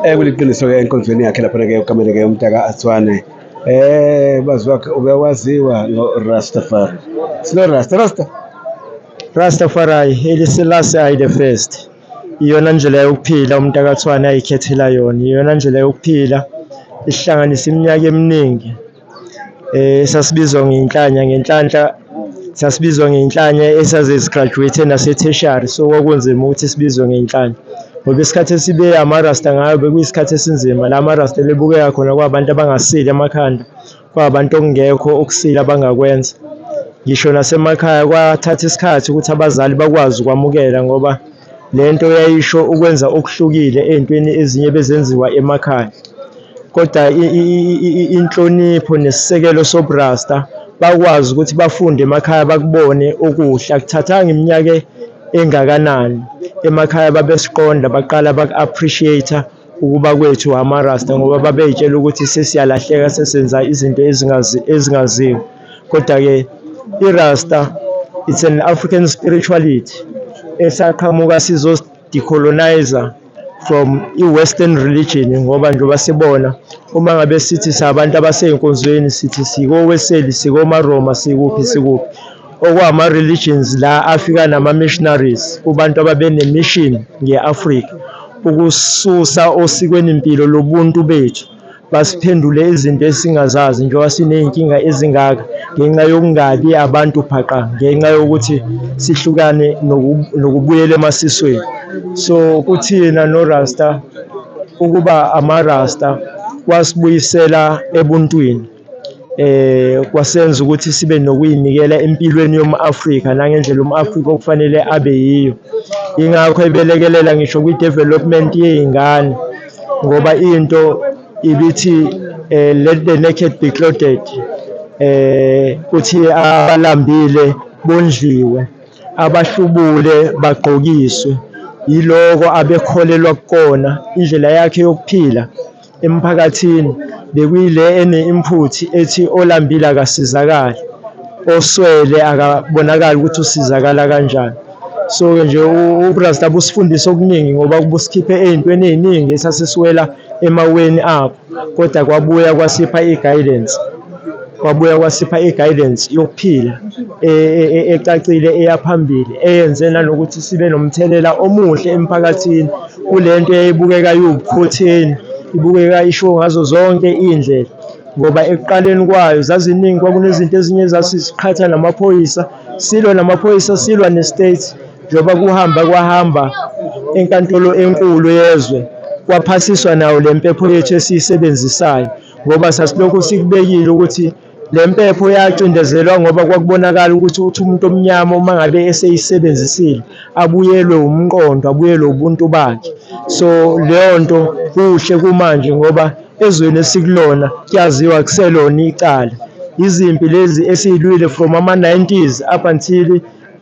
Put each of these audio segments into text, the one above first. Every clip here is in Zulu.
Eh kuliqiniso ke enkonzweni yakhe lapha ke ukamele ke umntaka Atswane. Eh bazi wakhe ubewaziwa ngo Rastafari. Sino Rasta Rasta. Rastafari elisilasi ayi the first. Iyona ndlela yokuphila umntaka Atswane ayikhethela yona. Iyona ndlela yokuphila ihlanganisa iminyaka eminingi. Eh sasibizwa ngenhlanya ngenhlanhla sasibizwa ngenhlanya esaze sigraduate nase-tertiary so kwakunzima ukuthi sibizwe ngenhlanya ngoba isikhathi esibe amarasta ngayo bekuyisikhathi esinzima la marasta ebebukeka khona kwabantu abangasile amakhanda kwabantu okungekho okusile abangakwenza ngisho nasemakhaya kwathatha isikhathi ukuthi abazali bakwazi ukwamukela ngoba Le nto yayisho ukwenza okuhlukile ey'ntweni ezinye ebezenziwa emakhaya. Koda inhlonipho nesisekelo sobuRasta bakwazi ukuthi bafunde emakhaya bakubone okuhle. Akuthathanga iminyaka engakanani emakhaya babesiqonda baqala baku-appreciate-a. ukuba kwethu amaRasta ngoba babeyitshela ukuthi sesiyalahleka sesenza izinto ezingazi ezingaziwa. Kodwa-ke iRasta it's an African spirituality esaqhamuka sizosi-decoloniser from i-western religion ngoba njengoba sibona uma ngabe sithi sabantu abasey'nkonzweni sithi sikoWeseli, sikomaRoma, sikuphi sikuphi. okwama religions la afika nama missionaries kubantu ababene mission ngeAfrika ukususa osikweni impilo lobuntu bethu basiphendule izinto esingazazi njengoba sinezinkinga ezingaka ngenxa yokungabi abantu phaqa ngenxa yokuthi sihlukane nokubuyela emasisweni so kuthina no Rasta ukuba ama Rasta wasibuyisela ebuntwini eh kwasenza ukuthi sibe nokuyinikela empilweni yomAfrika nangendlela umAfrika okufanele abe yiyo ingakho ebelekelela ngisho kwi development yeingane ngoba into ibithi eh, let the naked be clothed eh kuthi abalambile bondliwe abahlubule bagqokiswe yiloko abekholelwa kukona indlela yakhe yokuphila emphakathini bekuyile ene-input ethi olambile akasizakali, oswele akabonakali ukuthi usizakala kanjani. So-ke nje uRasta busifundisa okuningi ngoba kubusikhiphe ey'ntweni ey'ningi esasisiwela emaweni abo, kodwa kwabuya kwasipha i-guidance kwabuya kwasipha i-guidance yokuphila e, e, e, ecacile eyaphambili eyenze nanokuthi sibe nomthelela omuhle emphakathini. kule nto eyayibukeka iwukhotheni ibukeka isho ngazo zonke iy'ndlela ngoba ekuqaleni kwayo zaziningi kwakunezinto ezinye zasiziqhatha namaphoyisa silwa namaphoyisa silwa ne-state njengoba kuhamba kwahamba enkantolo enkulu yezwe kwaphasiswa nawo le mpepho yethu esiyisebenzisayo ngoba sasilokhu sikubekile ukuthi Le mpepho yacindezelwa ngoba kwakubonakala ukuthi uthi umuntu omnyama uma ngabe eseyisebenzisile abuyelwe umqondo abuyelwe ubuntu bakhe so leyo nto kuhle kumanje ngoba ezweni esikulona kuyaziwa kuselona icala izimpi lezi esiyilwile from ama-90s up until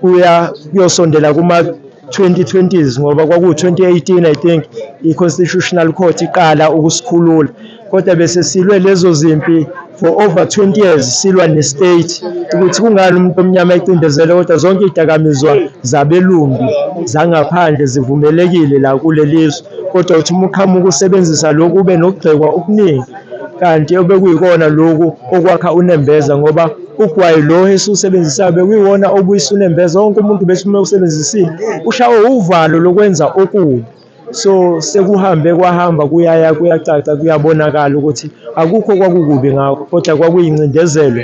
kuya kuyosondela kuma 2020s ngoba kwaku 2018 i think i constitutional court iqala ukusikhulula kodwa bese silwe lezo zimpi for over 20 years silwa ne state ukuthi kungani umuntu omnyama ecindezele kodwa zonke idakamizwa zabelungu zangaphandle zivumelekile la kulelizwe kodwa uthi umuqhamuka usebenzisa lokhu ube nokugxekwa okuningi kanti obekuyikona lokhu okwakha unembeza ngoba ugwayi lo esiwusebenzisayo bekuyiwona obuyisa unembeza wonke umuntu besume usebenzisile ushawe uvalo lokwenza okubi so sekuhambe kwahamba kuyaya kuyacaca kuyabonakala ukuthi akukho kwakukubi ngakho kodwa kwakuyincindezelo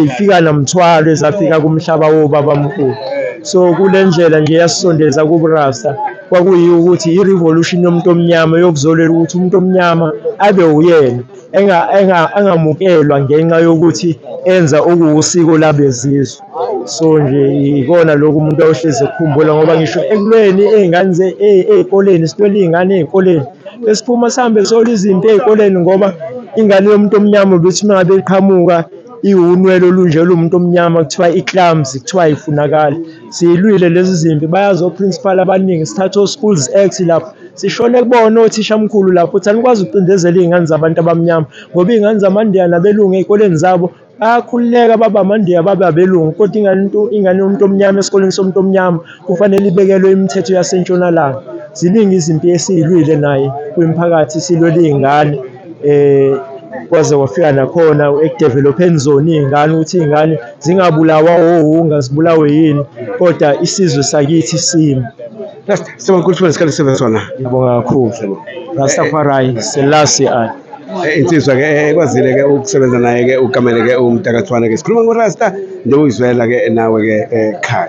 ifika namthwalo ezafika kumhlaba wobabamkhulu so kule ndlela nje yasisondeza kuburasta kwakuyiyo ukuthi i-revolution yomuntu omnyama yokuzolela ukuthi umuntu omnyama abe uyena engamukelwa ngenxa yokuthi enza okuwusiko labezizwe so nje ikona lokhu umuntu ayohlezi ekukhumbula ngoba ngisho ekulweni ey'ngane ey'koleni sitwela iy'ngane ey'koleni besiphuma sihambe sola izinto ey'koleni ngoba ingane yomuntu omnyama ukuthi uma ngabe iqhamuka iwunwele olunje lomuntu omnyama kuthiwa i-clams kuthiwa ayifunakali Siyilwile lezi zimpi bayazi oprincipal abaningi sithathe oSchools Act lapho sishone kubona othishamkhulu lapho ukuthi anikwazi ukucindezela iy'ngane zabantu abamnyama ngoba iy'ngane zamandiya nabelungu ey'koleni zabo bayakhululeka babe amandiya babe abelungu kodwa ingane into ingane yomuntu omnyama esikoleni somuntu omnyama kufanele ibekelwe imithetho yasentshonalanga ziningi izimpi esiyilwile naye kwimphakathi silwela iy'ngane. eh kwaze wafika nakhona ekudevelopeni zona iy'ngane ukuthi iy'ngane zingabulawa owunga zibulawe yini kodwa isizwe sakithi simi Sibonga ukuthi wesikhathi sibe sona. ngiyabonga kakhulu rastafari selasi i Eh, Insizwa ke eh, ekwazile ke ukusebenza naye ke ukamele ke umtakathwane ke. Sikhuluma ngoRasta njengoyizwela ke nawe ke ekhaya.